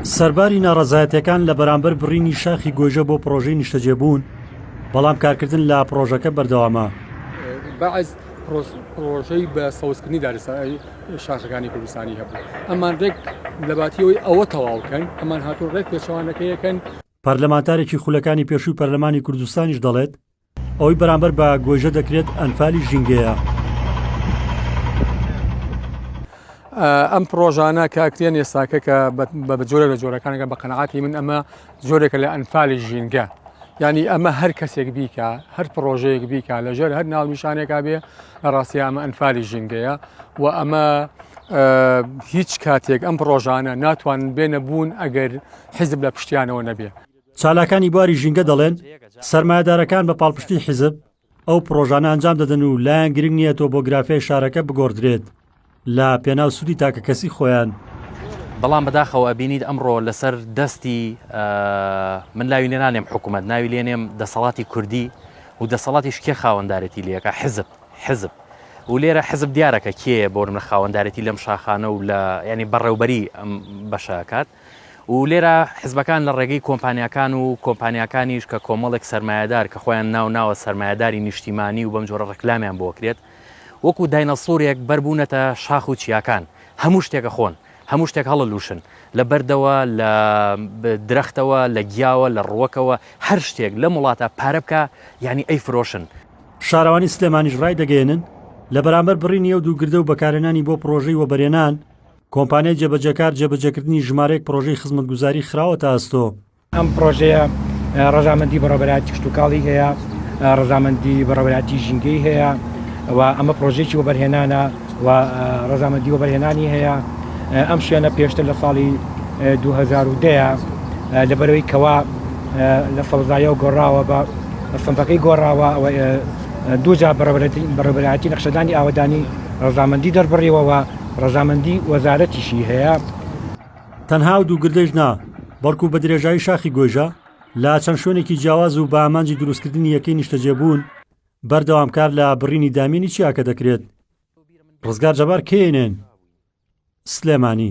سەرباری ناڕەزایەتیەکان لە بەرامبەر بڕینی شاخی گۆیژە بۆ پرۆژەی نیشتەجێبوون بەڵام کارکردن لە پرۆژەکە بەردەوامە بەعز پرۆژەی بە سەوزکردنی دارستانی شاخەکانی کوردستانی هەبوو ئەمان ڕێک لەباتیەوەی ئەوە تەواوکەن ئەمان هاتوو ڕێک پێچوانەکەیەکەن پەرلەمانتارێکی خولەکانی پێشووی پەرلەمانی کوردستانیش دەڵێت ئەوەی بەرامبەر بە گۆیژە دەکرێت ئەنفالی ژینگەیە. ئەم پرۆژانە کە ئەکرێن ئێستاکە کە بە جۆرە لە جۆرەکانەکە بە قەنەعاتی من ئەمە جۆرێکە لە ئەنفالی ژینگە ینی ئەمە هەر کەسێک بیکە هەر پرۆژەیەک بیکە لەژێر هەر ناونیشانێکا بێ لە ڕاستی ئەمە ئەنفالی ژینگەیە و ئەمە هیچ کاتێک ئەم پرۆژانە ناتوان بێنە بوون ئەگەر حیزب لە پشتیانەوە نەبێ چالاکانی بواری ژینگە دەڵێن، سەرمایەدارەکان بە پاڵپشتی حیزب ئەو پرۆژانە ئەنجام دەدەن و لایان گرنگ نییە تۆ بۆ گرافیای شارەکە بگۆڕدرێت لە پێناو سوودی تاکە کەسی خۆیان. بەڵام بەداخەوە ئەبینیت ئەمڕۆ لەسەر دەستی من لاوی لێنانێم حکوومەت ناوی لێنێم دەسەڵاتی کوردی و دەسەڵاتیش کێ خاوەندارێتی لەکە حزب حزب و لێرە حزب دیارەکە کێ بۆرمە خاوەندارێتی لەم شاخانە و لە ینی بەڕێوبەری ئەم بەشەکات و لێرە حزبەکان لە ڕێگەی کۆمپانیاکان و کۆمپانیاکانیش کە کۆمەڵێک سەرمایەدار کە خۆیان ناو ناوە سەرمایەداری نیشتیمانی و بەم جۆرە ڕکلامیان بۆ کرێت وەکو داینەسورێک بەربوونەتە شاخ و چیاکان هەموو شتێکە خۆن هەموو شتێک هەڵە لوشن لە بەردەوە لە درەختەوە لە گیاوە لە ڕوەکەوە هەر شتێک لە وڵاتە پارە بکە یعنی ئەی فرۆشن. شارەوانی سلێمانیش ڕایدەگەیەنن، لە بەرامبەر بڕینی ئەو دوو گردە و بەکارهێنانی بۆ پڕۆژەی وەبەرێنان، کۆمپانیای جێبەجێکار جێبەجێکردنی ژمارەیەک پڕۆژەی خزمەتگوزاری خراوەتە ئەستۆ. ئەم پڕۆژەیە ڕەزامەندی بەڕێوەبەرایەتی کشتوکاڵی هەیە، ڕەزامەندی بەڕێوەبەرایەتی ژینگەی هەیە و ئەمە پڕۆژەیەکی وەبەرهێنانە و ڕەزامەندی وەبەرهێنانی هەیە. ئەم شوێنە پێشتر لە ساڵی دوو هەزار و دە لەبەرەوەی کەوا لە سەوزاییەوە گۆڕاوە بە سنفەکەی گۆڕاوە و دووجار بەڕێوەبەرایەتی نەخشەدانی ئاوەدانی ڕەزامەندی دەربڕیوە و ڕەزامەندی وەزارەتیشی هەیە. تەنها ئەو دوو گردەیش نا، بەڵکو بە درێژایی شاخی گۆیژە، لە چەند شوێنێکی جیاواز و بە ئامانجی دروستکردنی یەکەی نیشتەجێبوون، بەردەوام کار لە بڕینی دامێنی چیاکە دەکرێت. ڕزگار جەبار، کەیێنێن، سلێمانی.